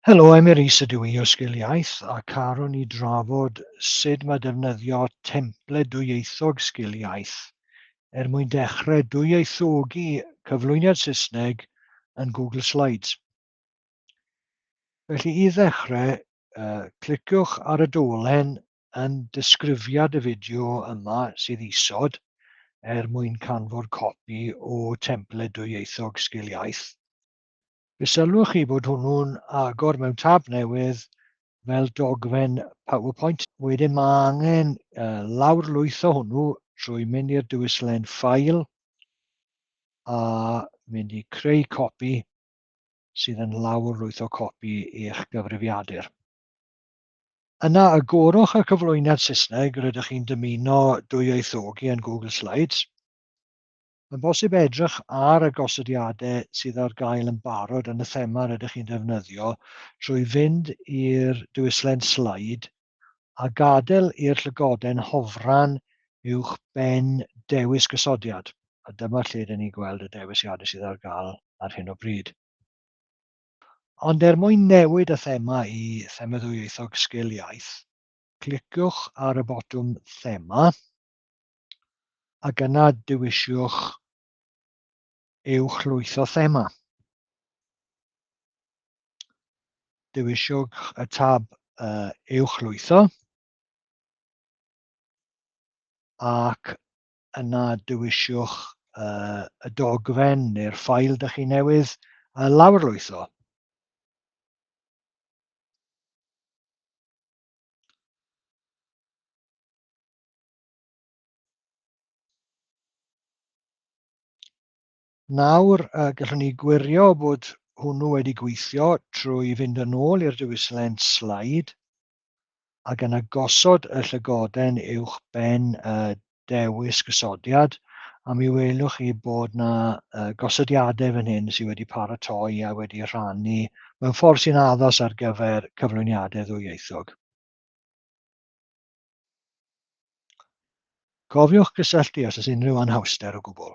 Helo, Emyr Rees ydw i o Sgil Iaith a caron ni drafod sut mae defnyddio templed dwyieithog Sgil Iaith er mwyn dechrau dwyieithogi cyflwyniad Saesneg yn Google Slides. Felly i ddechrau, cliciwch ar y dolen yn disgrifiad y fideo yma sydd isod er mwyn canfod copi o templed dwyieithog Sgil Iaith. Fe sylwch chi bod hwnnw'n agor mewn tab newydd fel dogfen PowerPoint. Wedyn mae angen uh, lawrlwytho hwnnw trwy mynd i'r dywyslen ffail a mynd i creu copi sydd yn lawrlwytho copi eich gyfrifiadur. Yna agorwch y cyflwyniad Saesneg rydych chi'n dymuno dwyieithogi yn Google Slides. Mae'n bosib edrych ar y gosodiadau sydd ar gael yn barod yn y thema rydych chi'n defnyddio trwy fynd i'r diwylliant sleid a gadael i'r llygoden hofran uwch ben dewis gosodiad, a dyma lle rydyn ni'n gweld y dewisiadau sydd ar gael ar hyn o bryd. Ond er mwyn newid y thema i Thema Ddwyieithog Sgil Iaith, cliciwch ar y botwm Thema, Ac yna dewisiwch uwch lwyth o thema. Dewisiwch y tab uh, uwch lwytho ac yna dewisiwch uh, y dogfen neu'r ffail dych chi newydd uh, lawrlwytho. Nawr, gallwn ni gwirio bod hwnnw wedi gweithio trwy fynd yn ôl i'r diwylliant slide ac yna gosod y llygoden uwch ben y dewis gosodiad a mi welwch chi bod yna gosodiadau fan hyn sydd wedi paratoi a wedi rhannu mewn ffordd sy'n addos ar gyfer cyflwyniadau ddwyieithog. Cofiwch gysylltu os oes unrhyw anhawster o gwbl.